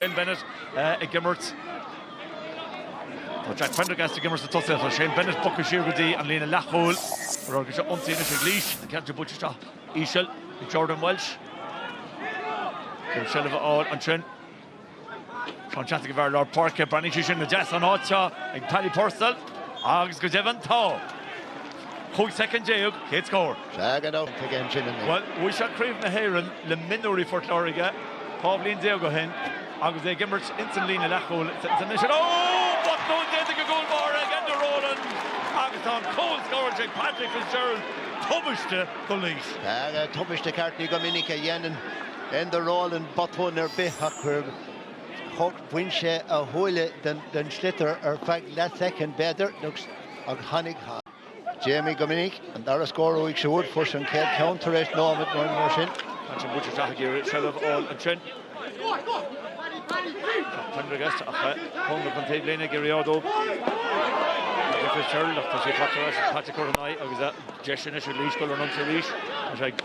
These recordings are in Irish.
Shane Bennett ag imirt. Tá Jack Prendergast ag imirt sna tosaithe agus Shane Bennett bogtha siar go dtí an líne leathchúil. Mar thoradh, san ionsaí anois ag Laois, an ceann sin buaite isteach íseal ag Jordan Welsh. ag iarraidh seilbh a fháil ansin. Seán Teasaigh fear lár páirce, breathnaigh sé sin go deas ón áit seo ag Paddy Purcell agus go deimhin tá. cúig soicind déag, chéad scór. Flag and out again Jimmy. Bhuel, bhuaigh sé Craobh na hÉireann le mionúirí Phort Láirge dhá bhliain déag ó shin agus é ag imirt ins an líne leathchúil anois. Ó! Botún déanta ag an gcúl báire, ag Enda Rowland, agus tá an cúl scóráilte ag Patrick Fitzgerald. Tubaiste do Laois. Aye, tubaiste ceart. Ní go minic a dhéanann Enda Rowland botún ar bith ach bhain sé a shúile den sliotar ar feadh leathshoicind b'fhéidir. agus tháinig Jamie go minic. An dara scór uaidh siúd, fuair sé an chéad cheann tar éis nóimead nó mar sin. An bhuaite atá ag iarraidh seilbh a fháil ansin. Tá Prendergast ach tháinig an taobh linn ag iarraidh ard ó Michael Fitzgerald ach tá sé fachta as. Tá Patrick Curran ina aghaidh agus deis anois ag Laois dul ar an ionsaí arís. Tá sé ag.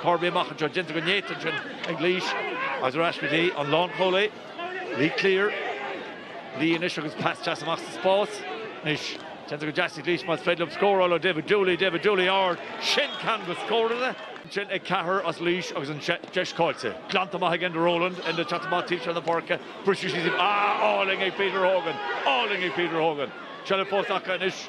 Corby amach anseo, déanta go néata ansin ag Laois agus ar ais go dtí an lánchúlaí, Lee Cleere. Lee anois agus pas deas amach sa spás. Anois, déanta go deas ag Laois b'fhéidir an scór a fháil ó David Dooley, David Dooley ard, sin ceann go scórann! Ansin ag ceathrar as Laois agus an deis caillte. Glanta amach ag Enda Rowland, Enda ag teacht amach taobh seo na páirce, briseadh síos, ah, álainn ag Peter Hogan, álainn ag Peter Hogan! Seilbh fós acu anois.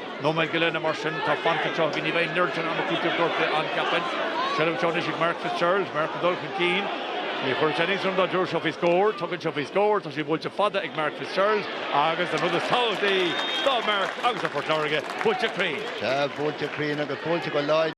Nóiméad go leith nó mar sin atá fanta anseo againn ní bheidh neart san am cúitimh, dúirt an captaen. Seilbh anseo anois ag Mark Fitzgerald, Mark ag dul chun cinn. Ní chuirfeadh sé iontas orm dá dtabharfadh seo faoi scór, tugann seo faoi scór, tá sé buailte fada ag Mark Fitzgerald agus an rud is tábhachtaí do Mark agus do Phort Láirge, buailte cruinn. Sea, buailte cruinn agus buailte go láidir.